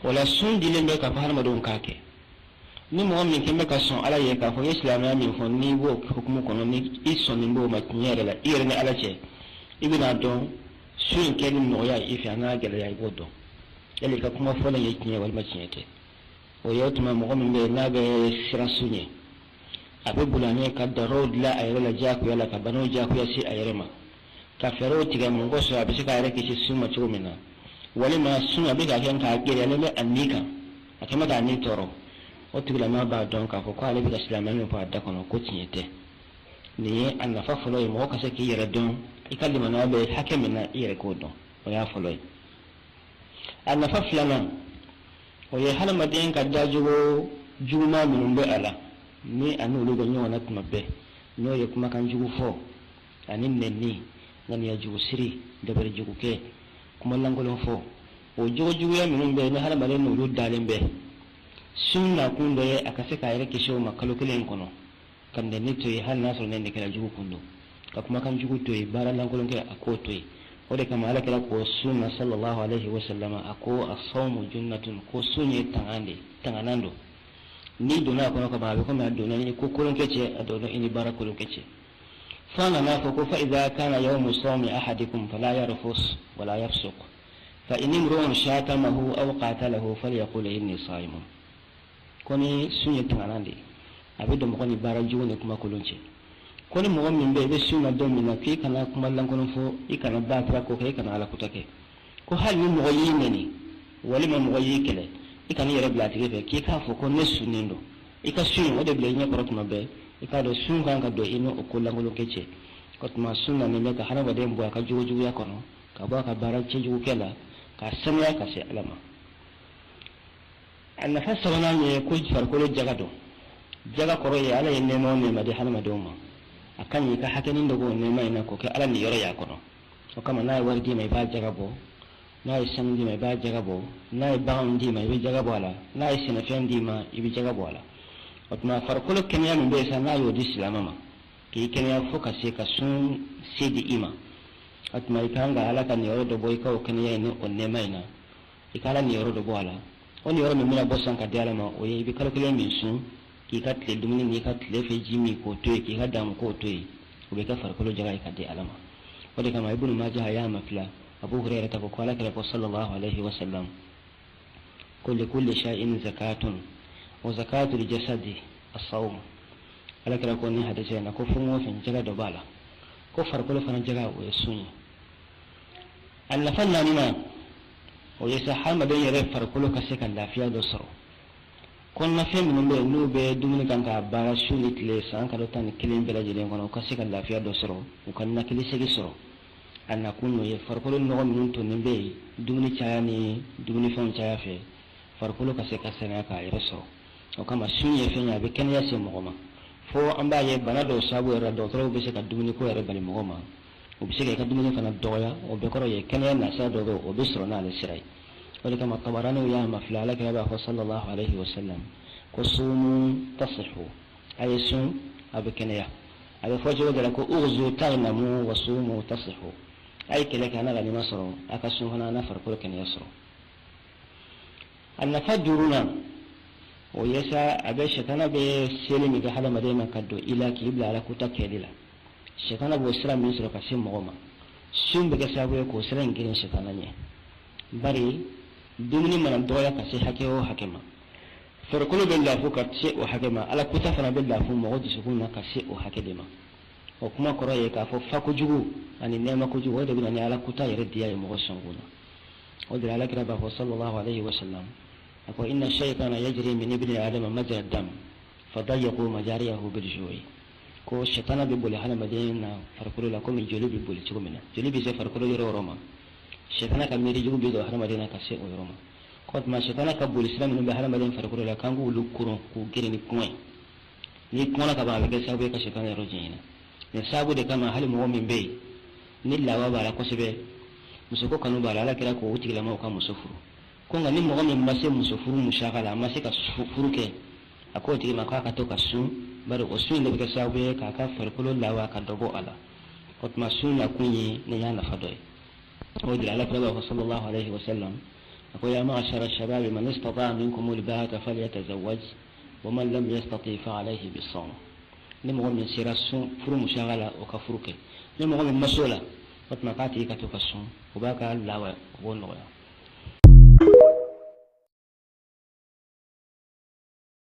wala sun dilen bɛ k'a fɔ hadamadenw k'a kɛ ni mɔgɔ min kɛlen bɛ ka sɔn ala ye k'a fɔ i ye silamɛya min fɔ n'i b'o hukumu kɔnɔ ni i sɔnnen b'o ma tiɲɛ yɛrɛ la i yɛrɛ ni ala cɛ i bɛn'a dɔn sun in kɛli nɔgɔya i fɛ an'a gɛlɛya i b'o dɔn yali i ka kuma fɔlen ye tiɲɛ walima tiɲɛ tɛ o ye o tuma mɔgɔ min bɛ yen n'a bɛ siran sun ɲɛ a bɛ boli a ɲɛ ka daw dilan a yɛrɛ la diyagoya la ka banaw diyagoya se a yɛrɛ ma ka fɛɛrɛw tigɛ mɔgɔ sɔrɔ a bɛ se k'a yɛrɛ kisi sun ma cogo min na walima sun a bɛ k'a kɛ nk'a gɛlɛyalen bɛ a ni kan a kɛlen bɛ k'a ni tɔɔrɔ o tigilama b'a dɔn k'a fɔ k'ale bɛ ka silamɛya min fɔ a da kɔnɔ ko tiɲɛ tɛ nin ye a nafa fɔlɔ ye mɔgɔ ka se k'i yɛrɛ dɔn i ka limaniya bɛ hakɛ min na i yɛrɛ k'o dɔn o y'a fɔlɔ ye a nafa filanan o ye hadamaden ka dajogo juguman minnu bɛ a la ni a n'olu bɛ ɲɔgɔn na tuma bɛɛ n'o ye kumakan jugu fɔ ani nɛnni ŋaniya jugu siri dabali jugu kɛ kuma lankolon fɔ o jogo juguya minnu bɛ ni hadamaden n'olu dalen bɛ sun nakun dɔ ye a ka se k'a yɛrɛ kisi o ma kalo kelen kɔnɔ ka nɛni to yen hali n'a sɔrɔ nɛni kɛra a jogo kun don ka kumakan jugu to yen baara lankolon kɛ a k'o to yen o de kama ala kira ko sun na sallallahu alaihi wa sallam a ko a sawmu junnatun ko sun ye tangan de tanganan don n'i donna a kɔnɔ ka ban a bɛ komi a donna i ni ko kolon kɛ cɛ a donna i ni baara kolon kɛ cɛ fo a nana a fɔ ko fa idha kana yawmu sawmi ahadikum fala yarfus wala yafsuq fa in imru'un shatamahu aw qatalahu falyaqul inni sa'imun ko ni sun ye tanganan de ye a bɛ don mɔgɔ ni baara jugu ni kumakolon cɛ ko ni mɔgɔ min bɛ i bɛ sun na don min na k'i kana kuma lankolon fɔ i kana baatira ko kɛ i kana ala kuta kɛ ko hali ni mɔgɔ y'i nɛni walima mɔgɔ y'i kɛlɛ i kana i yɛrɛ bila a tigi fɛ k'i k'a fɔ ko ne sunnen don i ka sun o de bila i ɲɛ kɔrɔ tuma bɛɛ i k'a dɔn sun kan ka don i n'o ko lankolon kɛ cɛ o tuma sun nanen bɛ ka hadamaden bɔ a ka jogojuguya kɔnɔ ka bɔ a ka baara cɛjugu kɛ la k'a sanuya ka se ala ma a nafa sabanan ye ko farikolo jaga don jaga kɔrɔ ye ala ye nɛɛma o nɛɛma di hadamadenw ma a ka ɲi i ka hakɛnin dɔ b'o nɛɛma in na k'o kɛ ala niyɔrɔ y'a kɔnɔ o kama n'a ye wari d'i ma i b'a jaga bɔ n'a ye sanu d'i ma i b'a jaga bɔ n'a ye baganw d'i ma i bɛ jaga bɔ a la n'a ye sɛnɛfɛn d'i ma i bɛ jaga bɔ a la o tuma farikolo kɛnɛya min bɛ yen sa n'a y'o di silamɛ ma k'i kɛnɛya fo ka se ka sun se di i ma o tuma i ka kan ka ala ka niyɔrɔ dɔ bɔ i ka o kɛnɛya in ni o nɛɛma in na i ka ala niyɔrɔ dɔ bɔ a la o niyɔrɔ min bɛna bɔ san ka di ala ma o ye i bɛ kalo kelen min sun k'i ka tile dumuni n'i ka tile fɛ ji min k'o to yen k'i ka damu k'o to yen o bɛ kɛ farikolo jaga ye ka di ala ma o de kama ibnu maja a y'a mafila abu hurayra ta ko ko ala kira ko sallallahu alaihi wa sallam ko li kulli shay'in zakatun wa zakatul jasadi as-sawm ala kira ko ni hadisi na ko fɛn o fɛn jaga dɔ b'a la ko farikolo fana jaga o ye sun ye a nafa naaninan o ye sa hadamaden yɛrɛ farikolo ka se ka lafiya dɔ sɔrɔ kɔnɔnafɛn minnu bɛ yen n'u bɛ dumuni kan k'a baara su ni tile san kalo tan ni kelen bɛɛ lajɛlen kɔnɔ u ka se ka lafiya dɔ sɔrɔ u ka ninakili segi sɔrɔ a nakun y'o ye farikolo nɔgɔ minnu tonnen bɛ yen dumuni caya ni dumunifɛnw caya fɛ farikolo ka se ka saniya k'a yɛrɛ sɔrɔ o kama sun ye fɛn ye a bɛ kɛnɛya se mɔgɔ ma fo an b'a ye bana dɔw sababu yɛrɛ dɔgɔtɔrɔw bɛ se ka dumuniko yɛrɛ bali mɔgɔ ma o bɛ se ka i ka dumuni fana dɔgɔya o bɛɛ kɔrɔ ye kɛnɛya nasira dɔ bɛ o bɛ sɔrɔ n'ale sira ye o de kama tabaraniyu y'a mafalen ala kira b'a fɔ sallallahu alayhi wa sallam ko sumu tasihu a ye sun a bɛ kɛnɛya a bɛ fɔ cogo dɔ la ko ughzu taghnamu wa sumu tasihu a ye kɛlɛ kɛ a na ganima sɔrɔ a ka sun fana a na farikolo kɛnɛya sɔrɔ a nafa duurunan o ye sa a bɛ sɛtana bɛ seli min kɛ hadamaden na ka don i la k'i bila ala kuta kɛli la sɛtana b'o sira min sɔrɔ ka se mɔgɔ ma sun bɛ kɛ sababu ye k'o sira in geren sɛtana ɲɛ bari dumuni mana dɔgɔya ka se hakɛ o hakɛ ma farikolo bɛ lafu ka se o hakɛ ma ala kuta fana bɛ lafu mɔgɔ dusukun na ka se o hakɛ de ma o kuma kɔrɔ ye k'a fɔ fa kojugu ani nɛɛma kojugu o de bɛ na ni ala kuta yɛrɛ diya ye mɔgɔ sɔnkun na o de la alakira b'a fɔ sallallahu alayhi wa sallam a ko inna shaytana yajri min ibni adama majra dam fadayyaqu majariyahu bil ju'i ko shaytana bɛ boli hadamaden na farikolo la komi joli bɛ boli cogo min na joli bɛ se farikolo yɔrɔ o yɔrɔ ma shaytana ka miiri jugu bɛ don hadamaden na ka se o yɔrɔ ma k'o tuma shaytana ka boli sira minnu bɛ hadamaden farikolo la k'an k'olu koron k'u geren ni kɔngɔ ye n'i kɔngɔra ka ban a bɛ kɛ sababu ye ka shaytana yɔrɔ janya an na nin sabu de kama hali mɔgɔ min bɛ yen ni lawa b'a la kosɛbɛ musoko kanu b'a la ala kira k'o tigilamɔgɔw ka muso furu ko nka ni mɔgɔ min ma se muso furu musaka la a ma se ka furu kɛ a k'o tigi ma k'a ka to ka sun bari o sun de bɛ kɛ sababu ye k'a ka farikolo lawa ka dɔ bɔ a la o tuma sun nakun ye nin y'a nafa dɔ ye o de la ala kira b'a fɔ sallallahu alaihi wa sallam a ko ya ma'ashara shababi man istata'a minkum al-ba'a falyatazawwaj wa man lam yastati fa alayhi bis-sawm ni mɔgɔ min sera sun furu musaka la o ka furu kɛ ni mɔgɔ min ma s'o la o tuma k'a tigi ka to ka sun o b'a ka lawa o b'o nɔgɔya